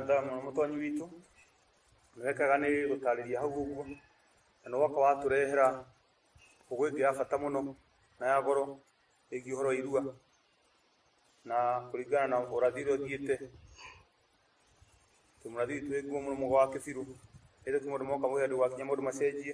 thamũ mũtonyi witũ wekaga nĩ gũtarĩria hau ũguo na nĩ woka watũrehera ũgũ ĩngĩ ya bata mũno na ya goro ĩgiĩ ũhoro wa irua na kũringana na ũrathi ũrĩa ũthiĩte tũmũrathi witũ wĩ nguo mũno mũgo wa kĩbirũ ĩrĩ kuma andũ moka mũgĩ andũ gwakinya maũndũ macenjie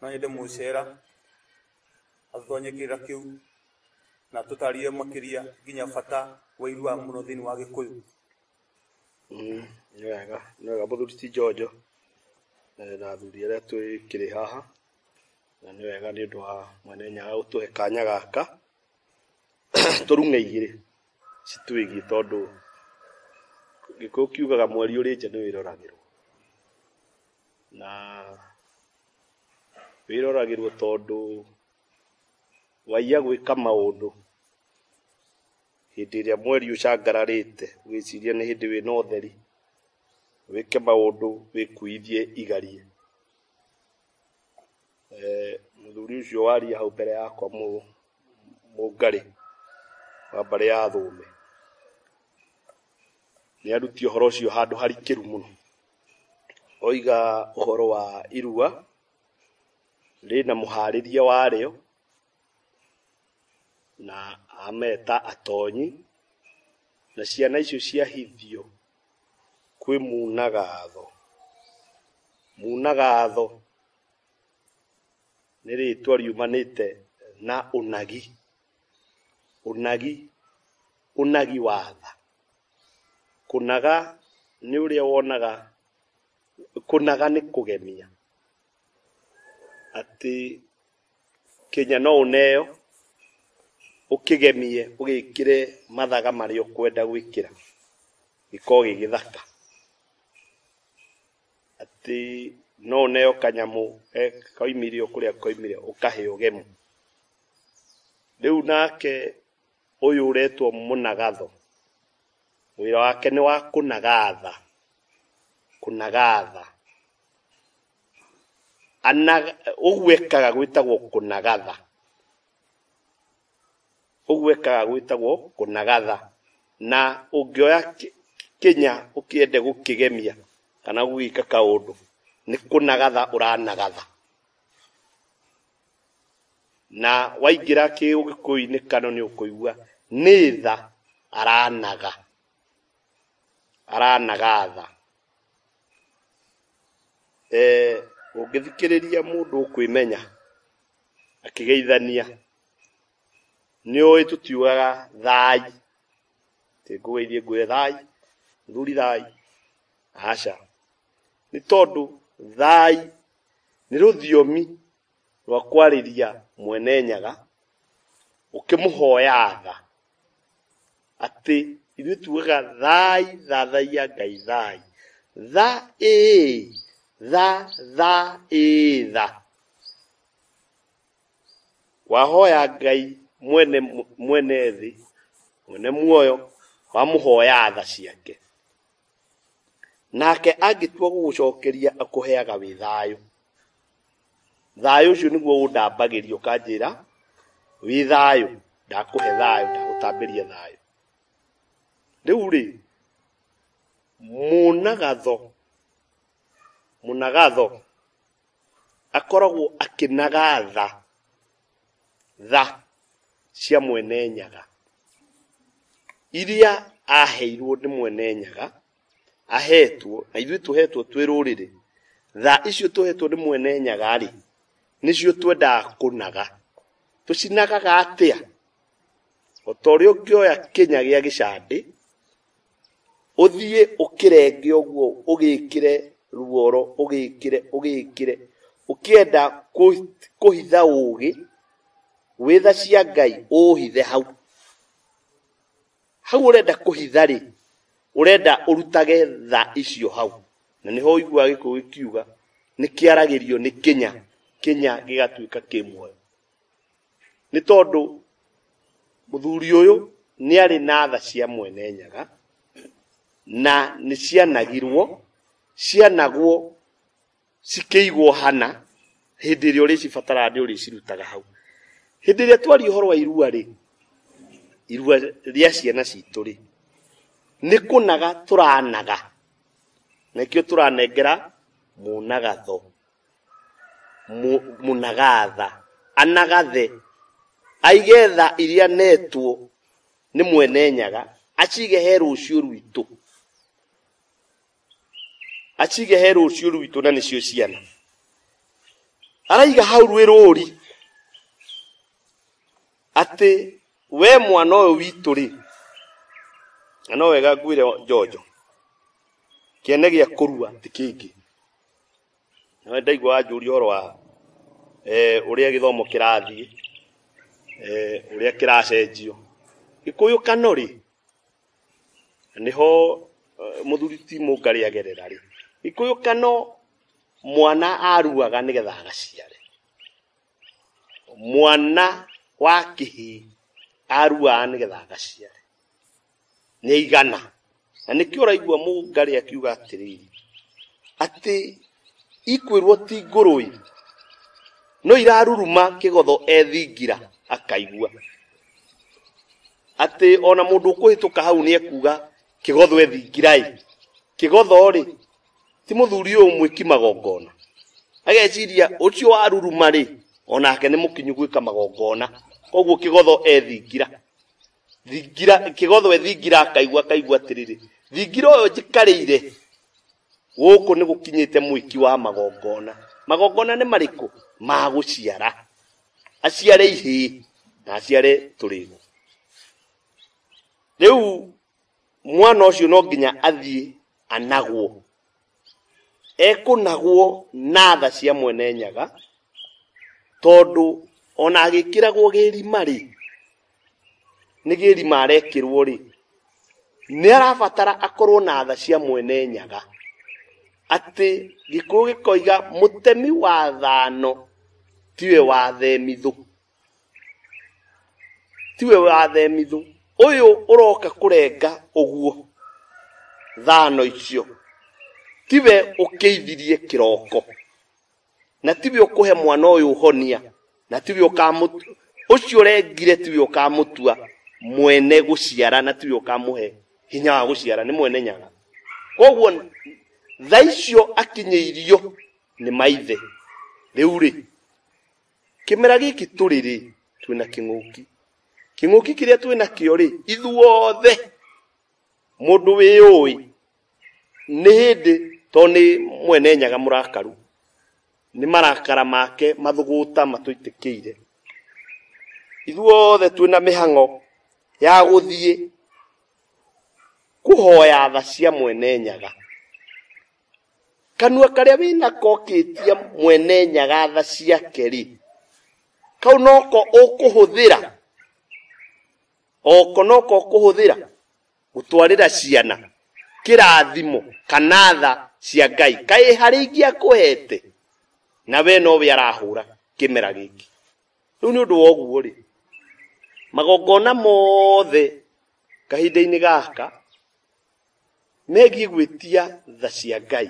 no ĩndĩ mũcera atũtonye kĩrĩra kĩu na tũtarire makĩria nginya bata wa irua mũno thĩinĩ wa gĩkũyũ Mm, nĩ wega nĩ wega mũthuri ti njonjo eh, na athuri arĩa twĩkĩrĩ haha na nĩ wega nĩ ũndũ wa mwene nyaga gũtũhe kanya gaka tũrung'e igĩrĩ citwĩgiĩ tondũ gĩkũyũ kiugaga mweri ũrĩ nja nĩ wĩroragĩrwo na wĩroragĩrwo tondũ waiya gwĩka maũndũ hĩndĩ ĩrĩa mweri ũcangararĩte ũgĩciria nĩ hĩndĩ wĩna ũtheri wĩke maũndũ wĩkuithie igarie Eh, mũthuri ũcio waria hau mbere yakwa mũ- mũngarĩ wa mbarĩ ya thũme nĩ aruti ũhoro ũcio handũ harikĩru mũno oiga ũhoro wa irua rĩna mũharĩria warĩo na ameta atonyi na ciana icio ciahithio kwĩ munagatho munagatho nĩ rĩtwa riumanĩte na ũnagi ũnagi ũnagi wa tha Kũnaga nĩ ũrĩa wonaga, kũnaga nĩ kũgemia, atĩ Kenya no ũneo ũkĩgemie ũgĩkĩre mathaga marĩa ũkwenda gwĩkĩra gĩkorwo gĩ gĩthaka. Atĩ no ũneo kanyamũ koimire o kũrĩa koimire ũkahe ũgemu. Rĩu nake Ũyũ ũretwo mũnagatho, wĩra wake nĩ wa kũnagatha, kũnagatha. Anaga, ũguo ekaga gwĩtagwo kũnagatha. Ũguo ekaga gwĩtagwo kũnagatha. Na ũngĩoya kĩ- kĩnya ũkĩende gũkĩgemia kana gũgĩka kaũndũ, nĩ kũnagatha ũranagatha. na waingĩra kĩũgĩkũyũ-inĩ kano nĩ ũkũigua nĩ tha aranaga aranaga tha eh, ũngĩthikĩrĩria mũndũ ũkwĩmenya akĩgeithania nĩ ũĩ tũtiugaga thai tĩ ngũgeithie ngwĩre thai mũthuri thai aca nĩ tondũ thai nĩ rũthiomi rwa kwarĩria mwene nyaga ũkĩmũhoya tha atĩ ithuĩ tugaga thai thathaia ngai thai tha ĩĩ tha tha ĩĩ tha wahoya ngai mwene mwene thĩ mwene muoyo wamũhoya tha ciake nake angĩtua gũgũcokeria akũheaga wĩ thayũ thayũ ũcio nĩguo ũndambagĩria ũkanjĩra wĩ thayũ ndakũhe thayũ ndagũtambĩria thayũ rĩu rĩ mũnagatho mũnagatho akoragwo akĩnagatha tha cia mwene nyaga iria aheirwo nĩ mwene nyaga ahetwo na ithuĩ tũhetwo twĩ rũrĩrĩ tha icio tũhetwo nĩ mwene nyaga rĩ nĩcio twendaga kũnaga tũcinagaga atĩa o ta ũrĩa ũngĩoya kĩnya gĩa gĩcandĩ ũthiĩ ũkĩrenge ũguo ũgĩkĩre ruoro ũgĩkĩre ũgĩkĩre ũkĩenda kũ- kũhitha ũũgĩ wĩ tha cia ngai ũũhithe hau hau ũrenda kũhitha rĩ ũrenda ũrutage tha icio hau na nĩho ũiguaga gĩkũyũ gĩkiuga nĩ kĩaragĩrio nĩ kĩnya kĩnya gĩgatuĩka kĩ muoyo nĩ tondũ mũthuri ũyũ nĩ arĩ na tha cia mwene nyaga na nĩ cianagirwo cianagwo cikĩigwo hana hĩndĩ ĩrĩa ũrĩcibatara nĩ ũrĩcirutaga hau hĩndĩ ĩrĩa twaria ũhoro wa irua rĩ irua rĩa ciana citũ rĩ nĩ kũnaga tũranaga nakĩo tũranengera mũnagatho mu- mũnagatha anagathe aigetha iria netwo nĩ mwene nyaga acige he rũciũ rwitũ acige he rũciũ rwitũ na nĩcio ciana araiga hau rwĩ rũri atĩ we mwana ũyũ witũ rĩ na no wega ngwĩre njonjo kĩene gĩa kũrua ti kĩngĩ Nĩ ndaigua wanjũria ũhoro wa eh, ũrĩa gĩthomo kĩrathiĩ eh, ũrĩa kĩracenjio gĩkũyũ kano rĩ nĩho eh, mũthuri ti mũngarĩ agerera rĩ gĩkũyũ kano mwana aruaga nĩgetha agaciare mwana wa kĩhĩ aruaga nĩgetha agaciare nĩ igana na nĩkĩo ũraigua mũngarĩ akiuga atĩrĩrĩ atĩ ikwĩrwo ti ngũrũi no iraruruma kĩgotho ethingira akaigua atĩ ona mũndũ ũkũhĩtũka hau nĩ ekuga kĩgotho ethingira-ĩ kĩgotho-rĩ ti mũthuri ũyũ mwĩki magongona ageciria ũcio waruruma-rĩ onake nĩ mũkinyu gwĩka magongona koguo kĩgotho ethingira thingira kĩgothwe thingira akaigua akaigua atĩrĩrĩ thingira ũyũ njikarĩire gũkũ nĩ gũkinyĩte mwĩki wa magongona magongona nĩ marĩkũ ma gũciara aciare ihĩ na aciare tũrĩgo rĩu mwana ũcio no nginya athiĩ anagwo ekũnagwo na tha cia mwene nyaga tondũ ona agĩkĩragwo gĩrima rĩ nĩ gĩrima arekĩrwo rĩ nĩ arabatara akorwo na tha cia mwene nyaga atĩ gĩkũyũ gĩkoiga mũtemi wa thano tiwe wa themithũ tiwe wathemithũ ũyũ ũroka kũrenga ũguo thano icio tiwe ũkĩithirie kĩroko na tiwe ũkũhe mwana ũyũ ũhonia na tiwe ũkamũtu ũcio ũrengire tiwe ũkamũtua mwene gũciara na tiwe ũkamũhe hinya wa gũciara nĩ mwene nyaga koguo tha icio akinyĩirio nĩ maithe rĩu rĩ kĩmera gĩkĩ tũrĩ rĩ twĩ na kĩng'ũki kĩng'ũki kĩrĩa twĩ nakĩo rĩ ithuothe mũndũ wĩ ũĩ nĩ hĩndĩ to nĩ mwene nyaga mũrakaru nĩ marakara make mathũgũta matũitĩkĩire ithuothe twĩ na mĩhang'o ya gũthiĩ kũhoya tha cia mwene nyaga kanua karĩa wĩ nako ũkĩtia mwene nyagatha ciake rĩ kau noko ũkũhũthĩra oko noko ũkũhũthĩra gũtwarĩra ciana kĩrathimo kana tha cia ngai kaĩ harĩ ingĩ akũhete na we nowe arahũra kĩmera gĩkĩ rĩu nĩ ũndũ wa ũguo rĩ magongona mothe kahinda-inĩ gaka megiĩ gwĩtia tha cia ngai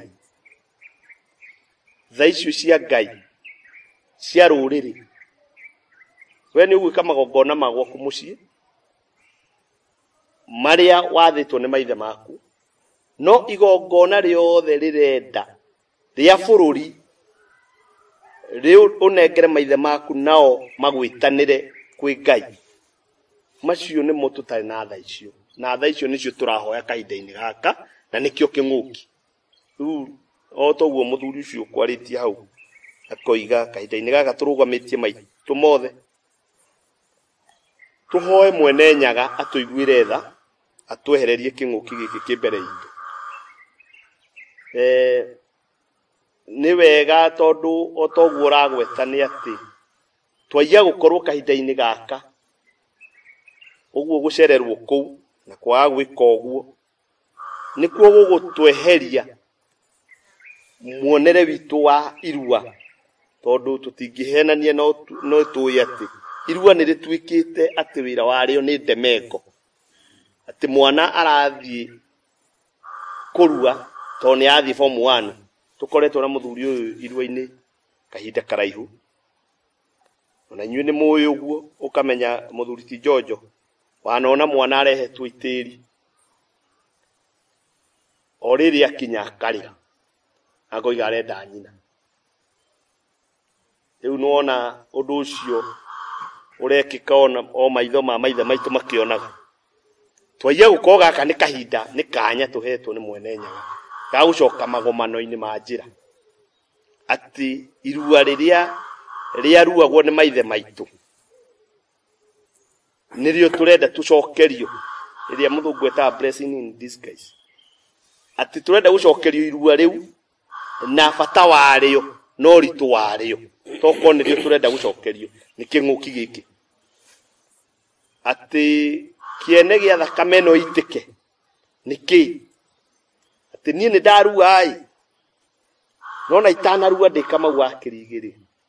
tha icio cia ngai cia rũrĩrĩ we nĩ ũgwĩka magongona ma gwaku mũciĩ marĩa wathĩtwo nĩ maithe maku no igongona rĩothe rĩrenda rĩa bũrũri rĩu ũnengere maithe maku nao magwĩtanĩre kwĩ ngai macio nĩmo tũtarĩ na tha icio na tha icio nĩcio tũrahoya kahinda-inĩ gaka na nĩkĩo kĩng'ũki rĩu o toguo mũthuri ũcio ũkwarĩtie hau akoiga kahinda-inĩ gaka tũrũgamĩtie maitũ mothe tũhoe mwene nyaga atũiguĩre tha atwehererie kĩng'ũki gĩkĩ kĩ mbere itũ eh, nĩ wega tondũ o toguo ũragweta nĩ atĩ twaiya gũkorwo kahinda-inĩ gaka ũguo gũcererwo kũu na kwaga gwĩka ũguo nĩkuo gũgũtweheria muonere witũ wa irua tondũ tũtingĩhenania no tũĩ atĩ irua nĩ rĩtuĩkĩte atĩ wĩra warĩo nĩ ndemengo atĩ mwana arathiĩ kũrua tondũ nĩ athiĩ form one tũkoretwo na mũthuri ũyũ irua-inĩ kahinda karaihu ona inyuĩ nĩ mũĩ ũguo ũkamenya mũthuri ti njonjo wanona mwana arehetwo itĩri o rĩrĩa akinya akarĩra akoiga arenda nyina rĩu nĩwona ũndũ ũcio ũrekĩka ona o maitho ma maithe maitũ makĩonaga twaiya gũkorwo gaka nĩ kahinda nĩ kanya tũhetwo nĩ mwene nyaga ga gũcoka magomano-inĩ ma njĩra atĩ irua rĩrĩa rĩaruagwo nĩ maithe maitũ nĩrĩo tũrenda tũcokerio rĩrĩa mũthũngũ etaga blessing in disguise atĩ tũrenda gũcokerio irua rĩu na bata warĩo na ũritũ warĩo tokorwo nĩrĩo tũrenda gũcokerio nĩ kĩng'ũki gĩkĩ atĩ kĩene gĩa thakame ĩno itĩke nĩ kĩ atĩ niĩ nĩ ndaruaĩ nona itanarua ndĩkamau akĩrigĩrĩ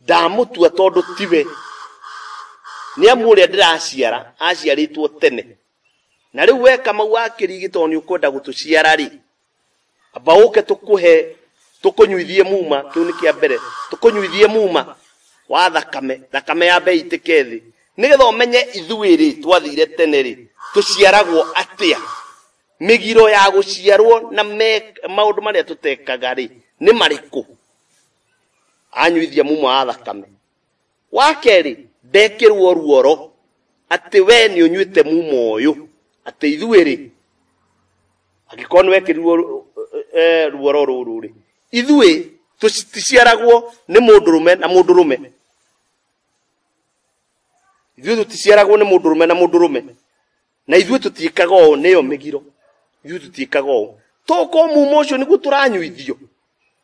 ndamutua tondu tiwe ni amu uria ndiraciara aciaritwo tene na riu we kamau akirigi tondu ni ukwenda gutuciara ri amba uke tukuhe tukunyuithie muma kiu ni kia mbere tukunyuithie muma wa thakame thakame ya mbei itike thi nigetha umenye ithui ri twathire tene ri tuciaragwo atia migiro ya guciarwo na me- maundu maria tutekaga ri ni mariku anyuithia muma wa thakame wa kerĩ ndekĩrwo ruoro atĩ we nĩ ũnyuĩte muma ũyũ atĩ ithuĩ rĩ angĩkorwo nĩ wekĩrirwo ru- eh, ruoro rũrũ rĩ ithuĩ tũticiaragwo nĩ mũndũ rũme na mũndũ rũme ithuĩ tũticiaragwo nĩ mũndũ rũme na mũndũ rũme na ithuĩ tũtiĩkaga ũũ nĩyo mĩgiro ithuĩ tũtiĩkaga ũũ tokorwo muma ũcio nĩguo tũranyuithio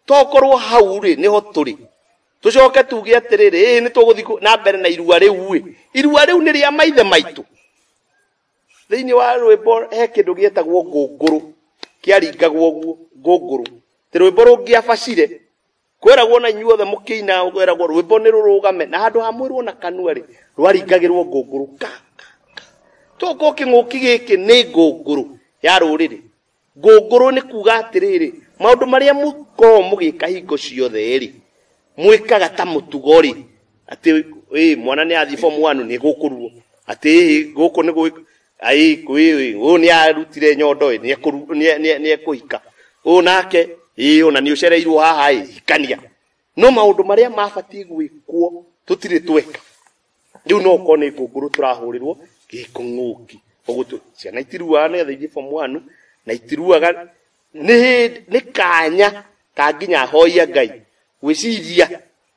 tokorwo hau rĩ nĩho tũrĩ tũcoke tuge atĩrĩrĩ ĩĩ nĩ tũgũthiĩ na mbere na irua rĩu ĩ irua rĩu nĩ rĩa maithe maitũ thĩinĩ wa rwĩmbo he kĩndũ gĩetagwo ngũngũrũ kĩaringagwo ũguo ngũngũrũ tĩ rwĩmbo rũngĩabacire kweragwo na inyuothe mũkĩina kweragwo rwĩmbo nĩ rũrũgame na handũ ha mwĩrwo na kanua rĩ rwaringagĩrwo ngũngũrũ ka ka, ka. toko kĩng'ũki gĩkĩ nĩ ngũngũrũ ya rũrĩrĩ ngũngũrũ nĩ kuga atĩrĩrĩ maũndũ marĩa mũkoragwo mũgĩka hingo ciothe rĩ mwĩkaga ta mũtugo rĩ atĩ ĩ mwana nĩ athiĩ form one nĩ gũkũruo atĩ ĩ gũkũ nĩ gwĩ- ai kwĩĩ ũũ nĩ arutire nyondo ĩ nĩ ekũru- nĩ- nĩ- nĩ ekũhika ũũ nake ĩ ũna nĩ ũcereirwo haha ĩ hikania no maũndũ marĩa mabatiĩ gwĩkwo tũtirĩ tweka rĩu no ũkorwo nĩ ngũngũrũ tũrahũrĩrwo gĩkũng'ũki ũgũtũ ciana itiruaga nĩgetha ithiĩ form one na itiruaga nĩ hĩndĩ- nĩ kanya ka nginya hoia ngai gwĩciria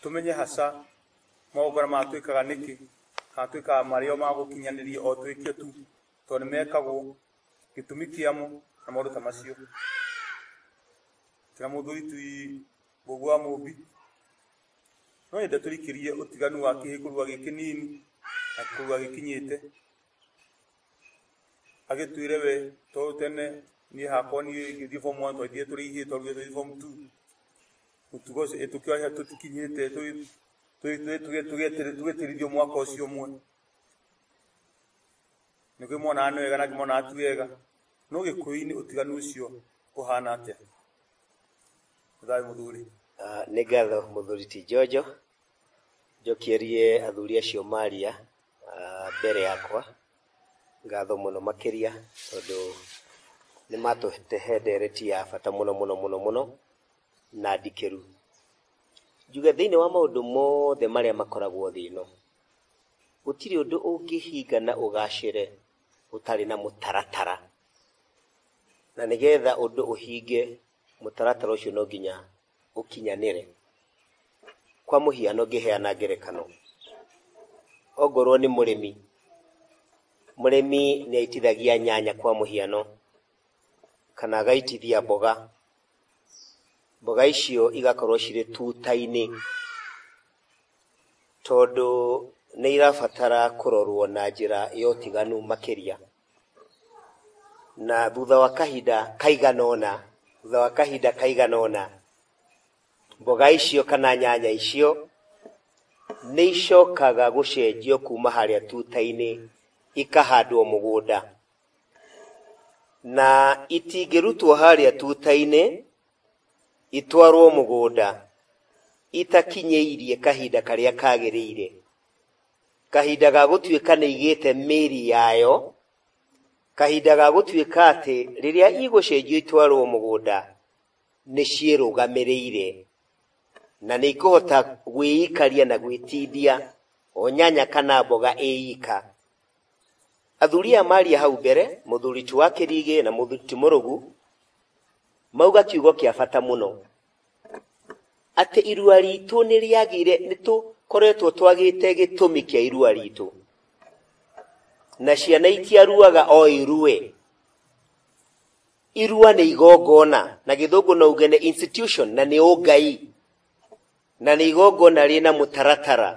Tũmenye haca, magongona maya twĩkaga nĩkĩ? Kana twĩkaga marĩ o ma gũkinyanĩria o twĩkio tu, tondũ nĩ mekagwo, gĩtũmi kĩamo, na maũndũ ta macio. Kĩra mũthuri ti Mũmbi wa Mũmbi. No nyende tũrikĩrie ũtiganu wa kĩhĩkũrua gĩkĩ nini na kĩhĩkũrua gĩkinyĩte. agĩtwĩre we to tene niĩ hakwa niĩ ngĩthiĩ form one twathiĩ tũrĩ ithiĩ twarugire tũthiĩ form two mũtugo ũcio ĩ tũkĩoya tũtikinyĩte tũgĩ- tũgĩ- tũgĩ- tũgĩ- tũgĩetĩrĩ- tũgĩtĩrithio mwaka ũcio ũmwe nĩ kĩmonaga nĩ wega na kĩmonaga ti wega no gĩkũyũ-inĩ ũtiganu ũcio ũhana atĩa thayũ mũthuri Ah, nĩ ngatho mũthuri ti njonjo njokierie athuri acio maria ah, mbere yakwa ngatho mũno makĩria tondũ nĩ matũtehe ndereti ya bata mũno mũno mũno mũno na ndikĩru njuge thĩinĩ wa maũndũ mothe marĩa makoragwo thĩ ĩno gũtirĩ ũndũ ũngĩhinga na ũgacĩre ũtarĩ na mũtaratara na nĩgetha ũndũ ũhinge mũtaratara ũcio no nginya gũkinyanĩre. Kwa mũhiano ngĩheana ngerekano, ongorwo nĩ mũrĩmi, mũrĩmi nĩ aitithagia nyanya kwa mũhiano, kana agaitithia mboga, mboga icio igakorwo cirĩ tuta-inĩ, tondũ nĩ irabatara kũrorwo na njĩra ya ũtiganu makĩria. na thutha wa kahinda kaigana ũna thutha wa kahinda kaigana ũna mboga icio kana nyanya icio nĩ icokaga gũcenjio kuma harĩa tuta-inĩ ikahandwo mũgũnda na itingĩrutwo harĩa tuta-inĩ itwarwo mũgũnda itakinyĩirie kahinda karĩa kagĩrĩire kahinda ga gũtuĩka nĩ igĩte mĩri yayo, kahinda ga gũtuĩka atĩ rĩrĩa igũcenjio itwarwo mũgũnda nĩ ciĩrũgamĩrĩire na nĩ ikũhota gwĩikaria na gwĩtindia o nyanya kana mboga ĩika. Athuri aya maria hau mbere, mũthuri ti wa kĩrigĩ na mũthuri ti mũrũgu, mauga kiugo kĩa bata mũno. atĩ irua ritũ nĩ rĩagire nĩ tũkoretwo twagĩte gĩtũmi kĩa irua ritũ na ciana itiaruaga o irue irua nĩ igongona na gĩthũngũ no uge nĩ institution na nĩ ũngai na nĩ igongona rĩna mũtaratara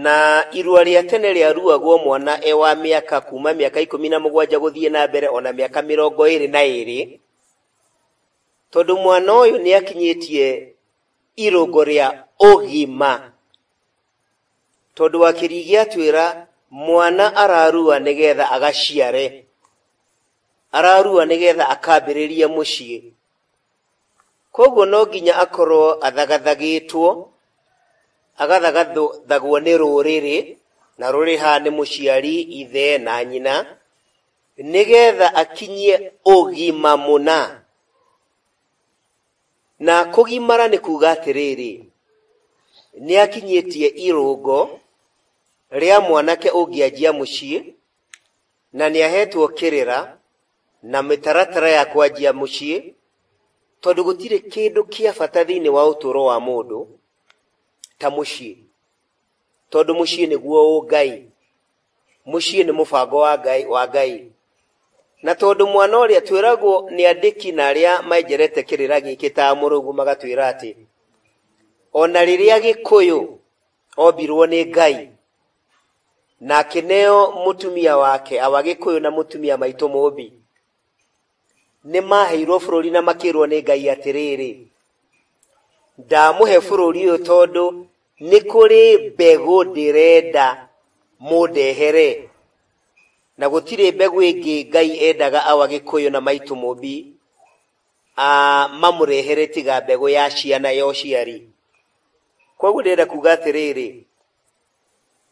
na irua rĩa tene rĩaruagwo mwana e wa mĩaka kuma mĩaka ikũmi na mũgwanja gũthiĩ na mbere ona mĩaka mĩrongo ĩrĩ na ĩrĩ tondũ mwana ũyũ nĩ akinyĩtie irũngo rĩa ũgima tondũ akĩrigi atwĩra mwana ararua nĩgetha agaciare ararua nĩgetha akambĩrĩrie mũciĩ koguo no nginya akorwo athagathagĩtwo agathagathagwo nĩ rũrĩrĩ na rũrĩha nĩ mũciari ithe na nyina nĩgetha akinyie ũgima mũna. Na kũgimara nĩ kuuga atĩrĩrĩ, nĩ akinyĩtie irũngo rĩa mwanake ũngĩanjia mũciĩ, na nĩ ahetwo kĩrĩra na mĩtaratara ya kwanjia mũciĩ, tondũ gũtirĩ kĩndũ kĩa bata thĩinĩ wa ũtũũro wa mũndũ ta mũciĩ. tondũ mũciĩ nĩguo ũ ngai mũciĩ nĩ mũbango wa ngai wa ngai na tondũ mwana ũrĩa twĩragwo nĩ andĩki na arĩa menjerete kĩrĩra gĩkĩ ta mũrũgu magatwĩra atĩ o na rĩrĩa gĩkũyũ ombirwo nĩ ngai na akĩneo mũtumia wake awa gĩkũyũ na mũtumia maitũ mũmbi nĩ maaheirwo bũrũri na makĩrwo nĩ Ngai atĩrĩrĩ, ndamũhe bũrũri ũyũ tondũ nĩ kũrĩ mbegũ ndĩrenda mũndehere na gũtirĩ mbegũ ĩngĩ Ngai endaga awa gĩkũyũ na maitũ mũmbi mamũrehere tiga mbegũ ya ciana ya ũciari. Koguo ndĩrenda kuga atĩrĩrĩ,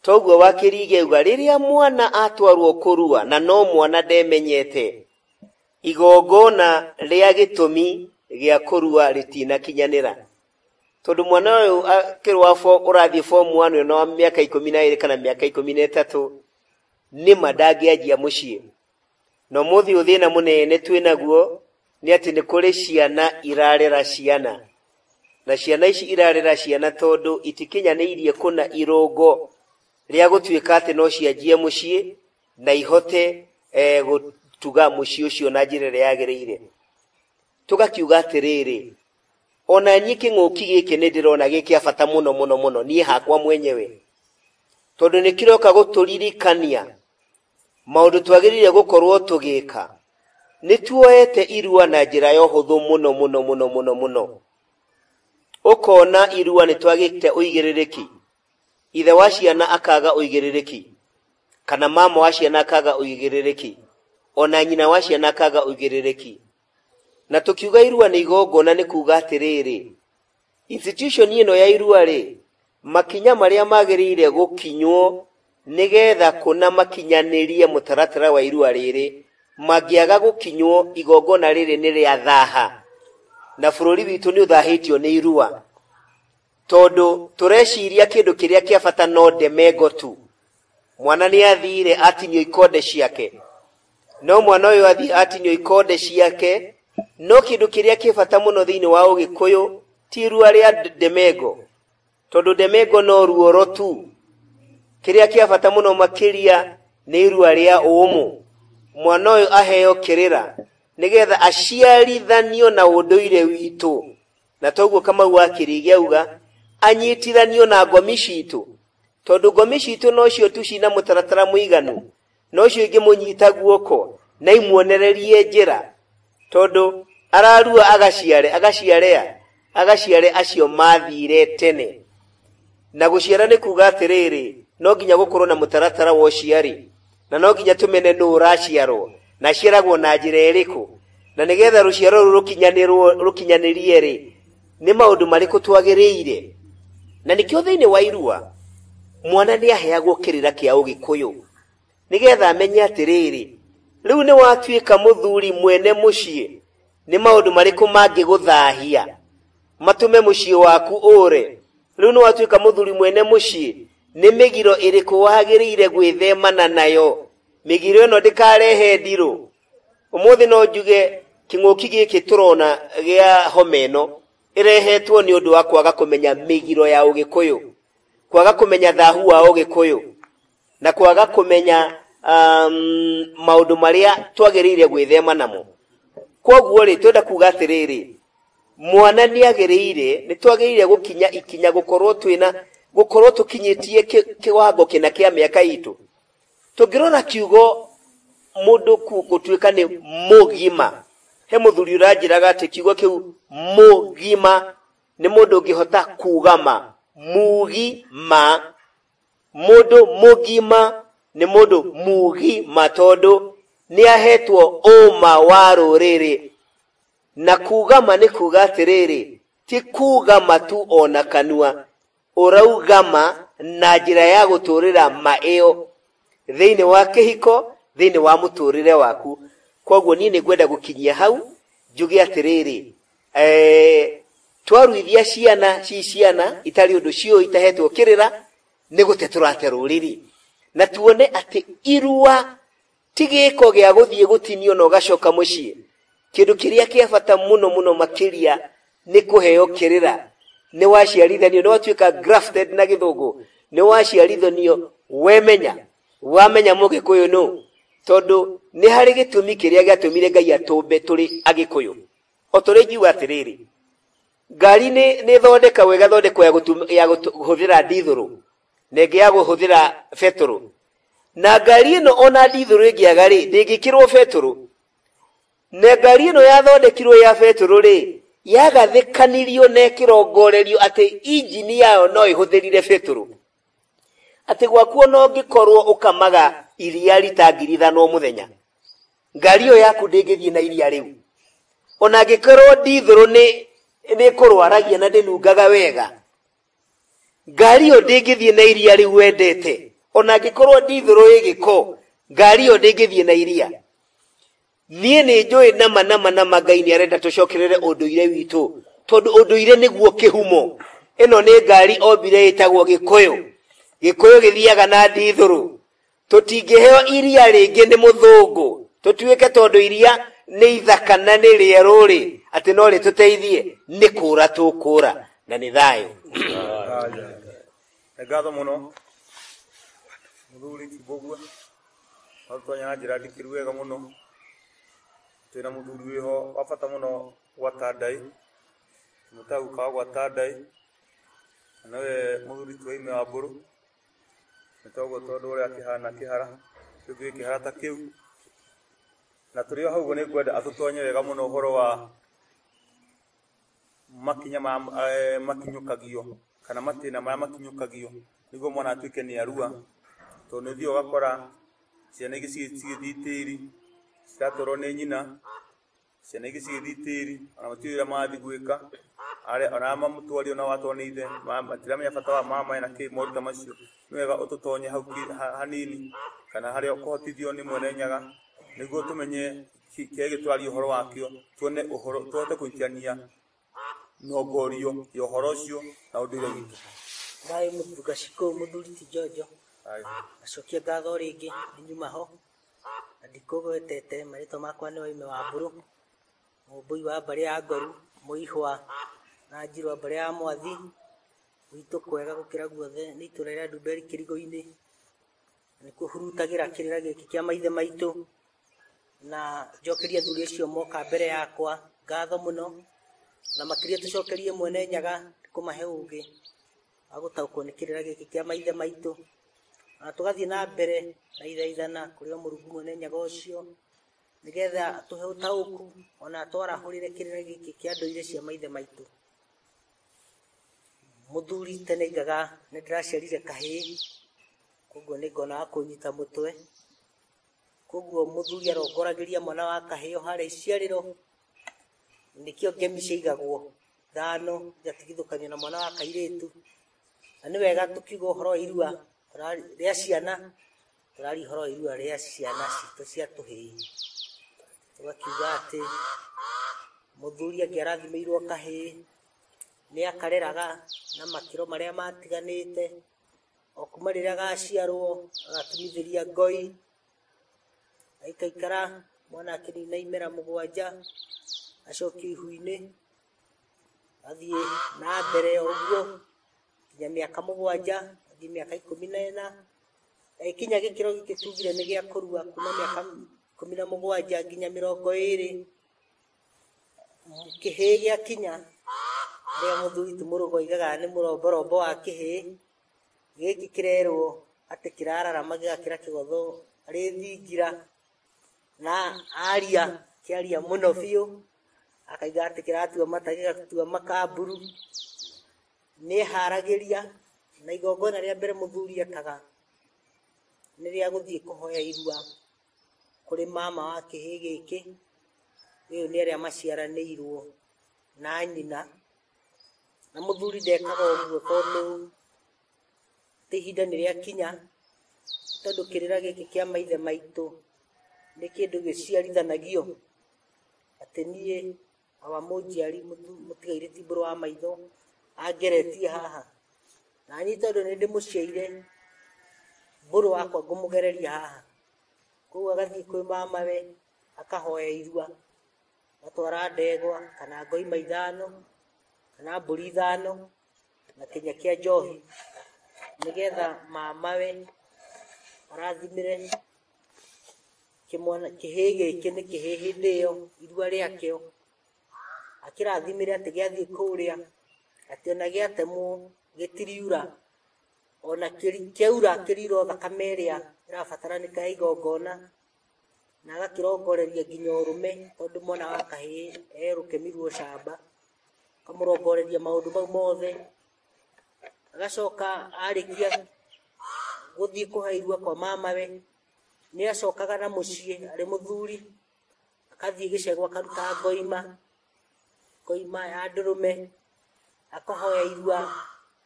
Toguo wakĩri igeuga, rĩrĩa mwana atwarwo kũrua na no mwana ndemenyete, igongona rĩa gĩtũmi gĩa kũrua rĩtinakinyanĩra. Tondũ mwana ũyũ akĩrĩ wa fo- ũrathiĩ form one ũyũ na wa mĩaka ikũmi na ĩrĩ kana mĩaka ikũmi na ĩtatũ, nĩma ndangĩanjia mũciĩ. No mũthĩ ũthĩna mũnene twĩ naguo nĩ atĩ nĩ kũrĩ ciana irarera ciana, na ciana ici irarera ciana tondũ itikinyanĩirie kũna irũngo rĩa gũtuĩka atĩ no cianjie mũciĩ na ihote eh, gũtuga mũciĩ ũcio na njĩra ĩrĩa yagĩrĩire. Tũgakiuga atĩrĩrĩ, ona niĩ kĩng'ũki gĩkĩ nĩ ndĩrona gĩ kĩa bata mũno mũno mũno niĩ hakwa mwenyewe, tondũ nĩ kĩroka gũtũririkania Maũndũ twagĩrĩire gũkorwo tũgĩka. Nĩ tuoete irua na njĩra ya ũhũthũ mũno mũno mũno mũno mũno. Ũkona irua nĩ twagĩte ũigĩrĩrĩki. Ithe wa ciana akaga ũigĩrĩrĩki. Kana mama wa ciana akaga ũigĩrĩrĩki. Ona nyina wa ciana akaga ũigĩrĩrĩki. Na tũkiuga irua nĩ igongona nĩ kuuga atĩrĩrĩ, Institution ĩno ya irua rĩ, makinya marĩa magĩrĩire gũkinywo nĩgetha kũna makinyanĩrie mũtaratara wa irua rĩrĩ, mangĩaga gũkinywo igongona rĩrĩ nĩ rĩa thaha. Na bũrũri witũ nĩ ũthahĩtio nĩ irua. Tondũ tũreciria kĩndũ kĩrĩa kĩa bata no ndemengo tu. Mwana nĩ athire atinio ikonde ciake. No mwana ũyũ athiĩ atinio ikonde ciake, no kĩndũ kĩrĩa kĩ bata mũno thĩinĩ wa Ũgĩkũyũ ti irua rĩa ndemengo, tondũ ndemengo no ruoro tu. Kĩrĩa kĩa bata mũno makĩria nĩ irua rĩa ũmũ. Mwana ũyũ aheo kĩrĩra nĩgetha aciarithanio na ũndũire witũ, na toguo Kamau wa Kĩrĩgĩ auga anyitithanio na ngomi citũ, tondũ ngomi citũ nocio tu cina mũtaratara mũiganu na ũcio ingĩ mũnyita guoko na imuonererie njĩra tondũ ararua agaciare agaciare a agaciare acio mathire tene na gũciara nĩ kuga atĩrĩrĩ no nginya gũkorwo na mũtaratara wa ũciari na no nginya tũmene nũ ũraciarwo na aciaragwo na njĩra ĩrĩkũ na nĩgetha rũciaro rũu rũkinyanĩrwo- rũkinyanĩrie rĩ nĩ maũndũ marĩkũ twagĩrĩire na nĩkĩo thĩinĩ wa irua mwana nĩ aheagwo kĩrĩra kĩa ũgĩkũyũ nĩgetha amenye atĩrĩrĩ rĩu nĩ watuĩka mũthuri mwene mũciĩ nĩ maũndũ marĩkũ mangĩgũthahia matũme mũciĩ waku ũre rĩu nĩ watuĩka mũthuri mwene mũciĩ nĩ mĩgiro ĩrĩkũ wagĩrĩire gwĩthemana nayo mĩgiro ĩno ndĩkarehe ndirũ Ũmũthĩ no njuge kĩng'ũki gĩkĩ tũrona gĩa homa ĩno ĩrehetwo nĩ ũndũ wa kwaga kũmenya mĩgiro ya Ũgĩkũyũ, kwaga kũmenya thahu wa Ũgĩkũyũ na kwaga kũmenya um, maũndũ marĩa twagĩrĩire gwĩthema namo. Kwoguo-rĩ, twenda kuga atĩrĩrĩ, mwana nĩ agĩrĩire, nĩ twagĩrĩire gũkinya ikinya gũkorwo twĩna gũkorwo tũkinyĩtie kĩ- kĩwango kĩna kĩa mĩaka itũ Tũngĩrora kiugo mũndũ gũtuĩka nĩ mũgima, he mũthuri ũranjĩraga atĩ kiugo kĩu mũgima nĩ mũndũ ũngĩhota kuuga ma mugi ma mũndũ mũgima nĩ mũndũ mugi ma tondũ nĩ ahetwo ũma wa rũrĩrĩ na kuuga ma nĩ kuuga atĩrĩrĩ ti kuuga matu ona kanua ũrauga ma na njĩra ya gũtũũrĩra ma ĩyo thĩinĩ wa kĩhiko thĩinĩ wa mũtũũrĩre waku kwoguo niĩ nĩ ngwenda gũkinyia hau njuge atĩrĩrĩ eh, twaruithia ciana ci ciana itarĩ ũndũ ciũ itahetwo kĩrĩra nĩ gũte tũrate rũrĩrĩ na tuone atĩ irua Ti gĩĩko gĩa gũthiĩ gũtinio na ũgacoka mũciĩ. Kĩndũ kĩrĩa kĩa bata mũno mũno makĩria nĩ kũheo kĩrĩra. Nĩ waciarithanio, nĩ watuĩka grafted na gĩthũngũ. Nĩ waciarithanio wemenya. Wamenya mũgĩkũyũ nũ? Tondũ nĩ harĩ gĩtũmi kĩrĩa gĩatũmire Ngai atũmbe tũrĩ agĩkũyũ. O ta ũrĩa ingiuga atĩrĩrĩ, ngari nĩ thondekagwo ĩgathondekwo ya kũhũthĩra ndithũrũ. nengea guhuthira beturu na ngari ĩno ona ndithũrũ ĩngĩaga rĩ ndĩngĩkĩrwo beturu na ngari ĩno yathondekirwo ya beturu rĩ yagathĩkanirio na ĩkĩrongorerio atĩ injini yayo no ĩhũthĩrire beturu atĩ gwakuo no ngĩkorwo ũkamaga iria rita ngiri ithano o mũthenya ngari ĩyo yaku ndĩngĩthiĩ na iria rĩu ona ngĩkorwo ndithũrũ nĩ nĩkũrwaragia na ndĩnungaga wega ngari ĩyo ndĩngĩthiĩ na iria rĩu wendete o na angĩkorwo ndithũrũ ĩ gĩko ngari ĩyo ndĩngĩthiĩ na iria niĩ nĩ njũĩ nama nama nama ngai nĩ arenda tũcokerere ũndũire witũ tondũ ũndũire nĩguo kĩhumo ĩno nĩ ngari ombire ĩtagwo gĩkũyũ gĩkũyũ gĩthiaga na ndithũrũ tũtingĩheo iria rĩngĩ nĩ mũthũngũ tũtuĩke tondũ iria nĩ ithaka na nĩ rĩerũ-rĩ atĩ no rĩtũteithie nĩ kũũra tũkũũra na nĩ thayũ nĩ ngatho mũno mũthuri kibogua atũtonya na njĩra ndikĩru wega mũno twĩna mũthuri wĩho wa bata mũno gwa tandai mũtagukawa gwa tandai nawe mũthuri tuwaime wa mbũrũ nĩtoguo tondũ ũrĩa kĩhana kĩhara kĩu gĩ kĩhara ta kĩu na tũrĩ o hau ũguo nĩ ngwenda atũtonye wega mũno ũhoro wa makinya ma eh, makinyũkagio kana matĩna marĩa makinyũkagio nĩguo mwana atuĩke nĩ arua tondũ nĩ ũthiaga ũgakora ciana ingĩ cigĩ- cigĩthiĩ tĩri ciratwarwo nĩ nyina ciana ingĩ cigĩthiĩ tĩri ona gũtirĩ wĩra marathiĩ gwĩka arĩa ona arĩa mamũtwari ona watwarwo nĩ ithe ma- matiramenya bata wa mama na kĩ moruta macio nĩ wega ũtũtonye hau ki- ha- hanini kana harĩa ũkũhotithio nĩ mwene nyaga nĩguo tũmenye ki- kĩrĩa gĩtũraria ũhoro wakĩo tuone ũhoro tũhote kũingĩrania nyongorio ya ũhoro ũcio na ũndũire witũ Thayũ mũtuka cikũ mũthuri ti njonjo Aye. acokia ngatho rĩngĩ nyuma ho na ndikũgwetete marĩtwa makwa nĩ waime wa mbũrũ mũmbũi wa mbarĩ ya ngoru mũihwa na njirwa mbarĩ ya mwathi gwitũ kwega gũkĩra guothe nĩ itũra rĩa ndumberi kĩrigo-inĩ nĩ kũhurutagĩra kĩrĩra gĩkĩ kĩa maithe maitũ na njokerie athuri acio moka mbere yakwa ngatho mũno na makĩria tũcokerie mwene nyaga kũmahe ũgĩ wa gũtaũkwo nĩ kĩrĩra gĩkĩ kĩa maithe maitũ na tũgathiĩ na mbere na ithaithana kũrĩ o mũrungu mwene nyaga ũcio nĩgetha tũhe ũtaũku ona twarahũrĩre kĩrĩra gĩkĩ kĩa ndũire cia maithe maitũ mũthuri tene aigaga nĩ ndĩraciarire kahĩĩ Koguo nĩ ngona wa kũnyita mũtwe. Koguo mũthuri arongoragĩria mwana wa kahĩo harĩa iciarĩro, nĩkĩo ngemi ciaigagwo thano igatigithũkanio na mwana wa kairĩtu. Na nĩ wega tũkiuga ũhoro wa irua tũrari- rĩa ciana, tũraria ũhoro wa irua rĩa ciana citũ cia tũhĩĩ. Tũgakiuga atĩ mũthuri angĩarathimĩirwo kahĩĩ, nĩ akareraga na makĩro marĩa matiganĩte, o kuma rĩrĩa gaciarwo agatumithĩria ngoi aikaikara mwana akĩnina imera mũgwanja acokio ihu-inĩ athiĩ na mbere o ũguo nginya mĩaka mũgwanja athiĩ mĩaka ikũmi na ĩna agĩkinya gĩkĩro gĩkĩ tugire nĩ gĩa kũrua kuma mĩaka ikũmi na mũgwanja nginya mĩrongo ĩrĩ kĩhĩ gĩa kinya rĩa mũthuri ti mũrũgo igaga nĩ mũromborombo wa kĩhĩ gĩkĩ kĩrerwo atĩ kĩrararama gĩgakĩra kĩgotho arĩ thingira na aria kĩaria mũno biũ akaiga atĩ kĩratua mata gĩgatua makamburu nĩharagĩria na igongona rĩa mbere mũthuri ekaga nĩ rĩa gũthiĩ kũhoya irua kũrĩ mama wa kĩhĩ gĩkĩ ũyũ nĩ arĩa maciaranĩirwo na nyina na mũthuri ndekaga ũguo tondũ atĩ ihinda nĩ rĩakinya tondũ kĩrĩra gĩkĩ kĩa maithe maitũ nĩ kĩndũ gĩciarithanagio atĩ niĩ aba mũnjiari mũtu- mũtigaire ti mbũrũ wa maitho angeretie haha nanyi tondũ nĩ ndĩmũciaire mbũrũ wakwa ngũmũgereria haha koguo agathiĩ kwĩ mamawe akahoya irua atwara ndegwa kana ngoima ithano kana mbũri ithano na kĩnya kĩa njohi nĩgetha mamawe arathimĩre kĩmwana kĩhĩ gĩkĩ nĩ kĩhĩ hĩndĩ ĩyo irua rĩakĩo akĩrathimĩre atĩ gĩathiĩ kũrĩa atĩ ona gĩatemwo gĩtiriura ona kĩri- kĩaura kĩriura o thakame ĩrĩa ĩrabataranĩka ya igongona na agakĩrongoreria nginya ũrũme tondũ mwana wa kahĩĩ e rũkemi rwa ũcamba, akamũrongoreria maũndũ mau mothe, agacoka arĩkia gũthiĩ kũhe irua kwa mamawe, nĩ acokaga na mũciĩ arĩ mũthuri, agathiĩ gĩcegũ akaruta ngoima, ngoima ya ndũrũme, akahoya irua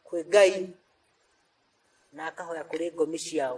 kwĩ Ngai, na akahoya kũrĩ ngomi ciao.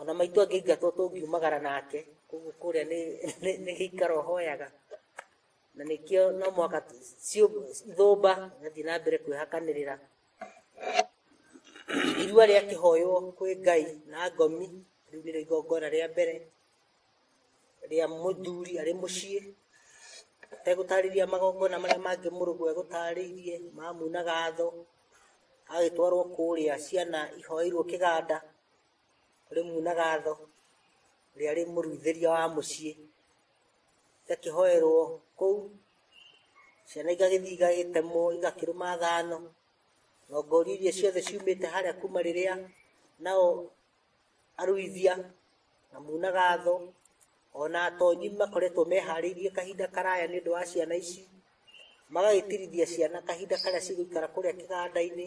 ona maitũ angĩingatwo tũngiumagara nake koguo kũrĩa nĩ gĩikaro hoyaga na nĩkĩo no mwaka ithũmba gathiĩ na mbere kwĩhakanĩrĩra irua rĩa kĩhoywo kwĩ ngai na ngomi rĩu nĩrĩo igongona rĩa mbere rĩa mũthuri arĩ mũciĩ ategũtarĩria magongona marĩa mangĩ mũrũgũ egũtarĩirie mamuna gatho agĩtwarwo kũrĩa ciana ihoeirwo kĩganda ũrĩ muna gatho ũrĩa arĩ mũruithĩria wa mũciĩ igakĩhoerwo kũu ciana igagĩthiĩ igagĩtemwo igakĩrũma thano ngongori iria ciothe ciumĩte harĩa kuma rĩrĩa nao aruithia na muna gatho ona atonyi makoretwo meharĩirie kahinda karaya nĩ ũndũ wa ciana ici magagĩtirithia ciana kahinda karĩa cigũikara kũrĩa kĩganda-inĩ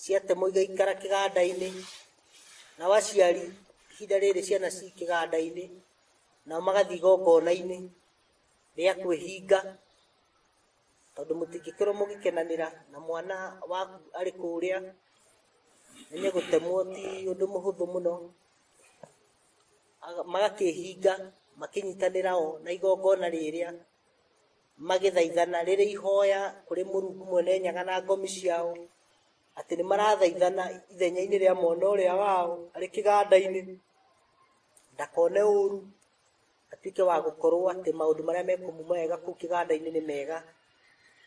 ciatemwo igaikara kĩganda-inĩ nao aciari ihinda rĩrĩ ciana ci kĩganda-inĩ nao magathiĩ igongona-inĩ rĩa kwĩhinga tondũ mũtingĩkorwo mũgĩkenanĩra na mwana waku arĩ kũrĩa nĩ gũtemwo ti ũndũ mũhũthũ mũno Aga- magakĩhinga makĩnyitanĩra o na igongona rĩrĩa magĩthaithana rĩrĩ ihoya kũrĩ mũrungu mwene nyaga na ngomi ciao atĩ nĩ marathaithana ithenya-inĩ rĩa mwana ũrĩa wao arĩ kĩganda-inĩ ndakone ũru atuĩke wa gũkorwo atĩ maũndũ marĩa mekũmuma wega kũu kĩganda-inĩ nĩ mega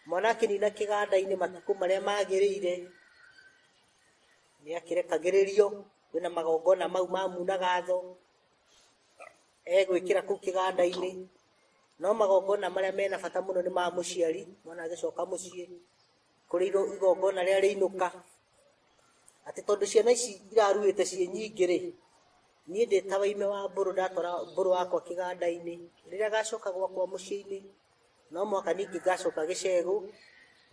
mwana akĩnina kĩganda-inĩ matukũ marĩa magĩrĩire nĩ akĩrekagĩrĩrio kwĩna magongona mau mamunaga tho egwĩkĩra kũu kĩganda-inĩ no magongona marĩa mena bata mũno nĩ ma mũciari mwana agĩcoka mũciĩ kũrĩ igo- igongona rĩrĩa rĩinũka atĩ tondũ ciana ici iraruĩte ciĩ nyingĩ rĩ niĩ ndĩ ta waime wa mbũrũ ndatwara mbũrũ wakwa kĩganda-inĩ rĩrĩa gacoka gwakwa mũciĩ-inĩ no mwaka ningĩ ngacoka gĩcegũ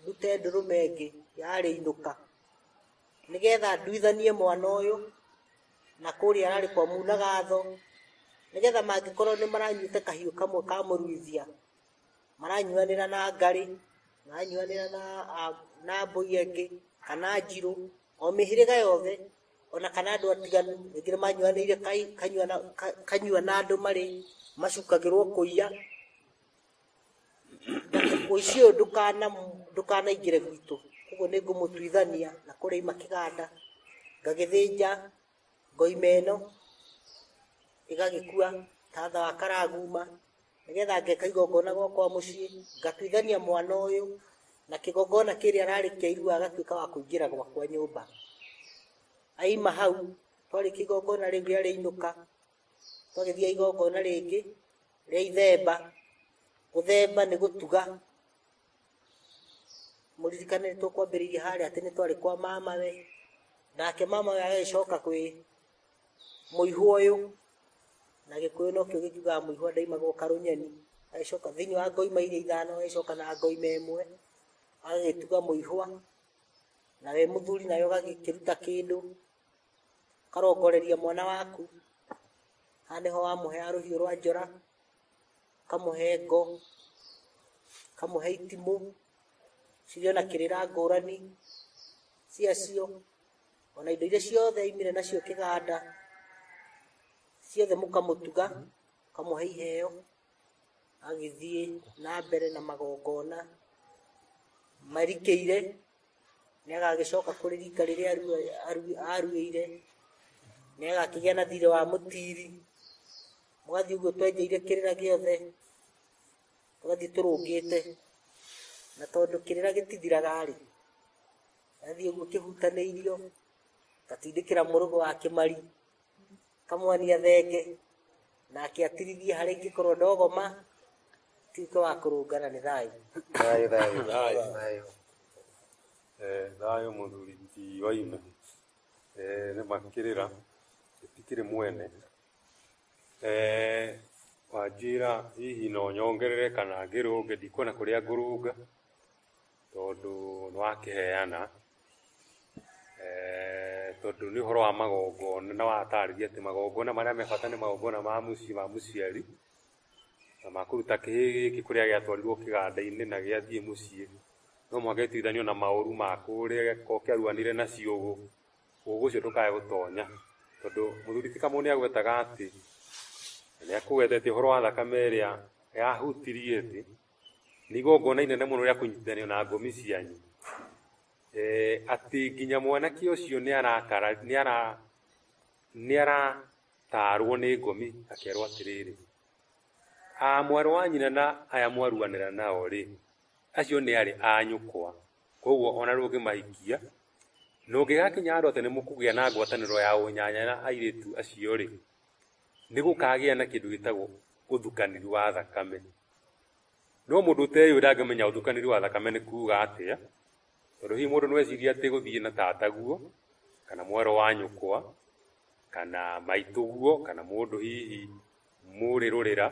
ndute ndũrũme ĩngĩ yarĩinũka nĩgetha nduithanie mwana ũyũ na kũrĩa ararĩ kwa muna gatho nĩgetha mangĩkorwo nĩ maranyuĩte kahiũ kamwe ka mũruithia maranyuanĩra na ngarĩ maranyuanĩra na a- na mbũi ĩngĩ kana njirũ o mĩhĩrĩga yothe ona kana andũ atiganu rĩngĩ nĩ manyuanĩire kai- kanyua na- ka- kanyua na andũ marĩ macukagĩrwo kũiya mũici ũyũ ndũkana ndũkanaingĩre gwitũ koguo nĩ ngũmũtuithania na kũrĩa ima kĩganda ngagĩthĩnja ngoima ĩno ĩgagĩkua tatha wa karaguma nĩgetha ngeka igongona gwakwa mũciĩ ngatuithania mwana ũyũ na kĩgongona kĩrĩa ararĩ kĩa irua agatuĩka wa kũingĩra gwakwa nyũmba aima hau twarĩkia igongona rĩu rĩrĩa rĩainũka ũgagĩthia igongona rĩngĩ rĩa ithemba gũthemba nĩ gũtuga mũririkane nĩ tũkwambĩrĩirie harĩa atĩ nĩ twarĩ kwa mamawe nake mamawe agagĩcoka kwĩ mũihu ũyũ na gĩkũyũ nokĩo gĩkiugaga mũihu ndaimaga ũkarũnyeni agĩcoka thĩinĩ wa ngoima iria ithano agĩcoka na ngoima ĩmwe agagĩtuga mũihwa nawe mũthuri nawe ũgagĩkĩruta kĩndũ ũkarongoreria mwana waku haha nĩho wamũheaga rũhiũ rwa njora ũkamũhe ngo ũkamũhe itimũ cirĩ ona kĩrĩra ngũrani ciacio ona indo iria ciothe imire nacio kĩganda ciothe mũkamũtuga ũkamũhe iheo agĩthiĩ na mbere na magongona marikĩire nĩ agagĩcoka kũrĩ rika rĩrĩa aruĩire nĩ agakĩgĩa na thirĩ wa mũtiri mũgathiĩ ũguo twenjeire kĩrĩra gĩothe tũgathiĩ tũrũngĩte na tondũ kĩrĩra gĩtithiraga rĩ gathiĩ ũguo kĩhutanĩirio gatindĩkĩra mũrũgũ wa kĩmari kamwania thenge nake atirithie harĩa ingĩkorwo ndogoma tuĩke wa kũrũngana nĩ thayũ Thayũ, thayũ, Thayũ. thayũ. Eh, thayũ mũthuri ti waime Eh, nĩ makĩrĩra gĩtikĩrĩ mwene Eh, wanjĩra hihi no nyongerere kana ngĩrũnge ndikuona kũrĩa ngũrũnga tondũ nĩ wakĩheana Eeh, tondũ nĩ ũhoro wa magongona na watarĩria atĩ magongona marĩa me bata nĩ magongona ma mũciĩ ma mũciari na ma kũruta kĩhĩĩ gĩkĩ kũrĩa gĩatwarirwo kĩganda-inĩ na gĩathiĩ mũciĩ no mũhaka gĩtuithanio na maũru ma kũrĩa gĩakorwo kĩaruanire na ciũgũ ũguo ũcio ndũkae gũtonya tondũ mũthuri ti kamũũ nĩ agwetaga atĩ nĩ akũgwetete ũhoro wa thakame ĩrĩa yahutirie thĩ nĩ igongona inene mũno rĩa kũnyitithanio na ngomi cianyu eh, atĩ nginya mwanake ũcio nĩ arakara nĩ ara nĩ aratarwo nĩ ngomi akerwo atĩrĩrĩ a mwarĩ wa nyina na aya mwaruanĩra nao rĩ acio nĩ arĩ a nyũkwa koguo ona rũngĩmahikia na ũngĩgakinya andũ atĩ nĩ mũkũgĩa na ngwatanĩro ya ũnyanya na airĩtu acio rĩ nĩ gũkagĩa na kĩndũ gĩtagwo ũthukanĩri wa thakame no mũndũ ũteyũĩ ndangĩmenya ũthukanĩri wa thakame nĩ kuuga atĩa tondũ hihi mũndũ nĩweciria atĩ gũthiĩ na tataguo kana mwarĩ wa nyũkwa kana maitũguo kana mũndũ hihi mũrĩ rũrĩra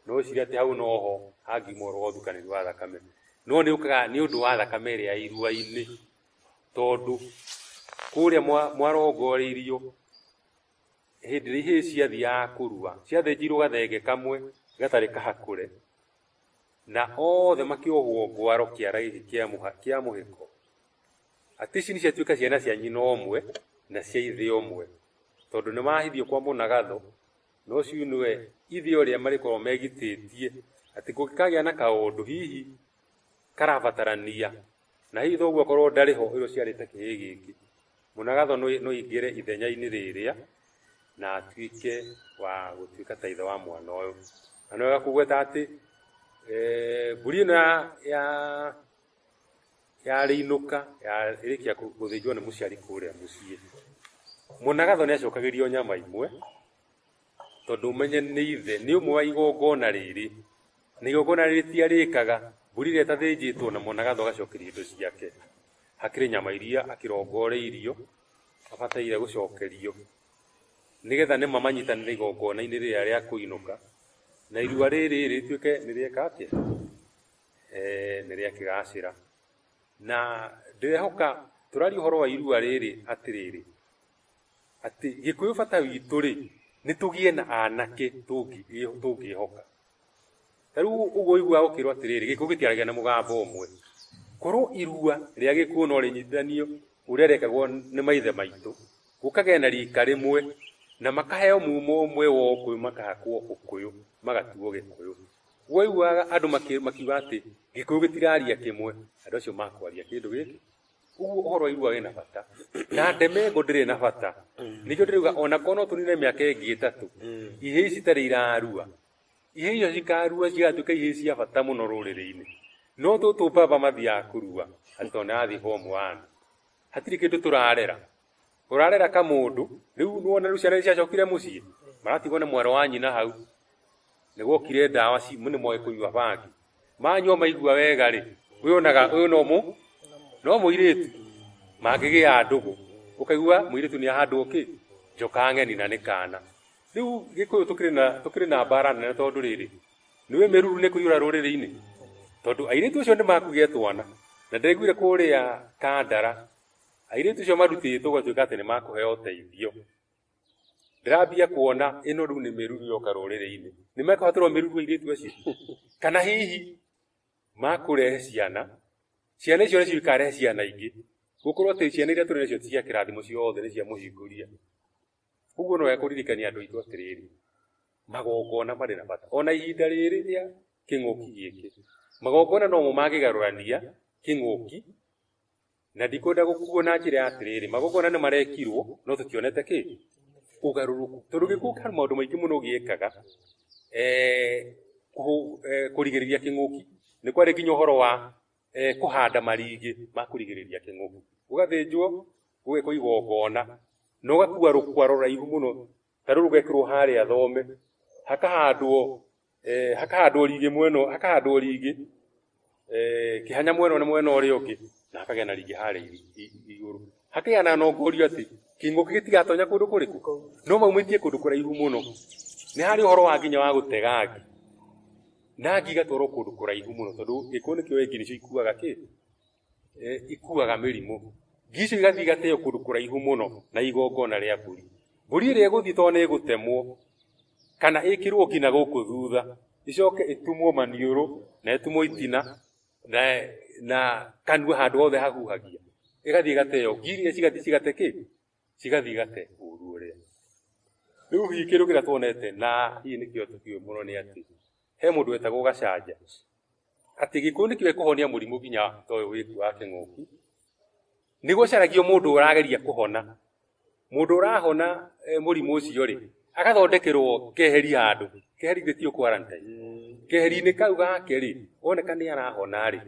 no ũcirie atĩ hau noho hangiuma ũhoro wa ũthukanĩri wa thakame no nĩ ũkaga nĩ ũndũ wa thakame ĩrĩa ya irua-inĩ tondũ kũrĩa mwa- mwarongoreirio Hĩndĩ ĩrĩa ihĩĩ ciathiaga kũrua, ciathĩnjirwo gathenge kamwe gatarĩ kahakũre, na othe makĩohwo ngwaro kĩara gĩkĩ kĩa mũha- kĩa mũhĩko, atĩ ici nĩciatuĩka ciana cia nyina ũmwe na cia ithe ũmwe, tondũ nĩmahithio kwa mũnagatho, na ũcio nĩwe ithe ũrĩa marĩkoragwo megitĩtie, atĩ kũngĩkagĩa na kaũndũ hihi karabatarania Na hihi thoguo akorwo ndarĩ ho ũyũ ũciarĩte kĩhĩĩ gĩkĩ, mũnagatho no no aingĩre ithenya-inĩ rĩrĩa na atuĩke wa gũtuĩka ta ithe wa mwana ũyũ. Na nĩ wega kũgweta atĩ eh, mbũri ĩno ya ya yarĩinũka ya- ĩrĩkia kũ- gũthĩnjwo nĩ mũciari kũrĩa mũciĩ mũnagatho nĩ acokagĩrio nyama imwe tondũ ũmenye nĩ ithe nĩ ũmwe wa igongona rĩrĩ Nĩ igongona rĩtia rĩkaga, mbũri ĩrĩa ĩtathĩnjĩtwo na mwanagatha ũgacokeria indo ciake. Hakĩrĩ nyama iria akĩrongoreirio abataire gũcokerio, nĩgetha nĩma manyitanĩre igongona-inĩ rĩrĩa rĩa kũinũka, na irua rĩrĩ rĩtuĩke nĩ rĩeka atĩa? Ee, nĩ rĩa kĩgacĩra. Na ndĩrehoka tũraria ũhoro wa irua rĩrĩ atĩrĩrĩ. atĩ gĩkũyũ bata witũ rĩ nĩ tũgĩe na anake tũngĩhoka ta rĩu ũguo ũiguaga ũkĩrwo atĩrĩrĩ gĩkũyũ gĩtiaragia na mũgambo ũmwe korwo irua rĩa gĩkuũ no rĩnyitithanio ũrĩa rekagwo nĩ maithe maitũ gũkagĩa na rika rĩmwe na makaheo mumo ũmwe wa ũkũyũ makahakwo ũkũyũ magatuo gĩkũyũ guo iguaga andũ makiuga atĩ gĩkũyũ gĩtiraria kĩmwe andũ acio makwaria kĩndũ gĩkĩ Ũguo ũhoro wa irua wĩna bata. Na ndemengo ndĩrĩ na bata. Nĩkĩo ndĩrauga ona korwo no tũnine mĩaka ĩngĩ ĩtatũ, ihĩĩ ici itarĩ irarua. Ihĩĩ icio cikarua cigatuĩka ihĩĩ cia bata mũno rũrĩrĩ-inĩ. No tũtũ baba mathiaga kũrua atĩ tondũ nĩ arathiĩ form one. Hatirĩ kĩndũ tũrarera. Ũrarera kamũndũ, rĩu nĩwona rĩu ciana nĩciacokire mũciĩ, maratigwo nĩ mwarĩ wa nyina hau, nĩgwokire ndawa ci nĩ moĩ kũnyua bangi. Manyua maigua wega-rĩ, ũyũ onaga ũyũ no mũ no mũirĩtu, mangĩgĩa ndũgũ, ũkaigua mũirĩtu nĩahandwo kĩ? Njoka ng'eni na nĩ kana. Rĩu Gĩkũyũ tũkĩrĩ na tũkĩrĩ na mbara nene tondũ rĩrĩ, nĩũĩ mĩruru nĩkũiyũra rũrĩrĩ-inĩ? Tondũ airĩtu acio nĩmakugĩa twana, na ndĩraiguire kũrĩa Kandara Airĩtu acio marutĩtwo gũtuĩka atĩ nĩ makũheo ũteithio. Ndĩrambia kuona ĩno rĩu nĩ mĩruru yoka rũrĩrĩ-inĩ. Nĩ mekũhatĩrwo mĩruru airĩtu acio? Kana hihi makũrehe ciana, ciana icio nĩcio ikarehe ciana ingĩ, gũkorwo atĩ ciana iria tũrĩ nacio ti cia kĩrathimo ciothe nĩ cia mũhingũria. Ũguo no wega kũririkania andũ aitũ atĩrĩrĩ, magongona marĩ na bata. Ona ihinda rĩrĩ rĩa kĩng'ũki gĩkĩ, magongona nomo mangĩgarũrania kĩng'ũki Na ndikwenda gũkuo na njĩra ya atĩrĩrĩ, magongona nĩ marekirwo, no tũtionete kĩ? Ũgarũrũku. Tondũ gĩkuũ harĩ maũndũ maingĩ mũno gĩekaga eh, kũhũ- eh, kũrigĩrĩria kĩng'ũki. Nĩ kwarĩ nginya ũhoro wa eh, kũhanda marigĩ ma kũrigĩrĩria kĩng'ũki. Gũgathĩnjwo, gũgekwo igongona, na ũgakua rũkwaro rũraihu mũno tarä u rå gekärwo harä a thome hakahandwo eh, hakahandwo rigi mweno hakahandwo rigi eh, kihanya mweno na mwena ũrĩa ũngĩ na hakagĩa na rigi harĩa iri- i- i- igũrũ hakagĩa na nongorio atĩ kĩng'ũki gĩtigatonya kũndũ kũrĩkũ no maumĩtie kũndũ kũraihu mũno nĩ harĩ ũhoro wa nginya wa gũtega ngi na ngi igatwarwo kũndũ kũraihu mũno tondũ gĩkũyũ nĩkĩo ngi nĩcio ikuaga kĩ eh, ikuaga mĩrimũ ngi icio igathiĩ igateo kũndũ kũraihu mũno na igongona rĩa mbũri mbũri ĩrĩa ĩgũthiĩ tondũ nĩ ĩgũtemwo kana ĩkĩrwo nginya gũkũ thutha ĩcoke ĩtumwo maniũrũ na ĩtumwo itina na, na kanua handũ hothe hahuhagia ĩgathiĩ ĩgateo ngi iria cigathiĩ cigate kĩ cigathiĩ igate ũru ũrĩa rĩu hihi kĩndũ kĩrĩa tuonete na hihi nĩkĩo tũkiũĩ mũno nĩ atĩ he mũndũ wetagwo gacanja atĩ gĩkũyũ nĩkĩo ekũhonia mũrimũ nginya ta ũyũ wĩku wa kĩng'ũki nĩ gũcaragio mũndũ ũrageria kũhona mũndũ ũrahona eh, mũrimũ ũcio rĩ agathondekerwo keheri handũ keheri githĩ tio quarantine keheri-inĩ kau gake rĩ oneka nĩ arahona rĩ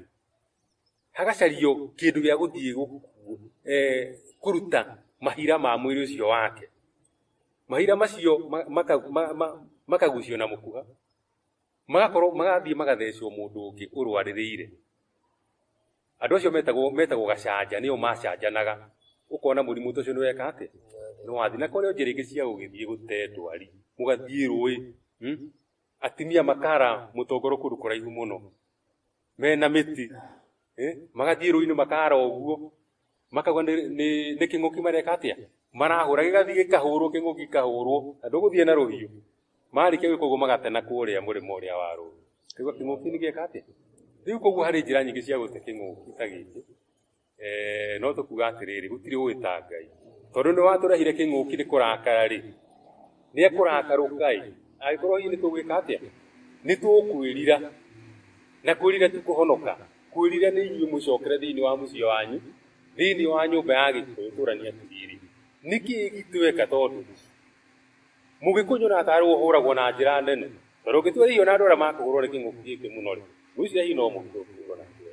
hagacario kĩndũ gĩa gũthiĩ gũkuo eh, kũruta mahira ma mwĩrĩ ũcio wake mahira macio ma- maka- ma- ma- makagucio na mũkuha magakorwo magathiĩ magathecwo mũndũ ũngĩ ũrwarĩrĩire andå acio metagwo metagwo gacanja nä o macanjanaga å kona må rimå ta å cio nä weka atä nä wathi na korä njä rä ngä cia gå gä thiä gå te ndwari må gathiä rå ä atimia makara må tongoro kå ndå kå raihu må no mena mĩti eh, magathiĩ rũinĩ makara ũguo makauga nĩ- nĩ nĩ kĩng'ũki mareka atĩa marahũra gĩgathiĩ gĩkahũrwo kĩng'ũki gĩkahũrwo na ndũgũthiĩ na rũhiũ marĩkia gwĩka ũguo magatena kũrĩa mũrĩmo ũrĩa wa rũĩ kaigua kĩng'ũki nĩ gĩeka atĩa rĩu koguo harĩ njĩra nyingĩ cia gũte kĩng'ũki ta gĩkĩ Eh, no tũkuga atĩrĩrĩ gũtirĩ ũĩ ta ngai tondũ nĩ watũrehire kĩng'ũki nĩ kũrakara rĩ nĩ ekũrakarũka ĩ angĩkorwo hihi nĩ tũgwĩka atĩa nĩ tũkwĩrira na kwĩrira ti kũhonoka kwĩrira nĩ inyuĩ mũcokere thĩinĩ wa mũciĩ wanyu thĩinĩ wa nyũmba ya gĩkũyũ tũrania atĩrĩrĩ nĩkĩ gitweka tondũ mũgĩkũnyu na atarwo hũragwo na njĩra nene tondũ ũngĩtua hihi ona andũ arĩa makũhũrwo nĩ kĩng'ũki gĩkĩ mũno rĩ mũici hihi no mũgĩthũkũrwo na njĩra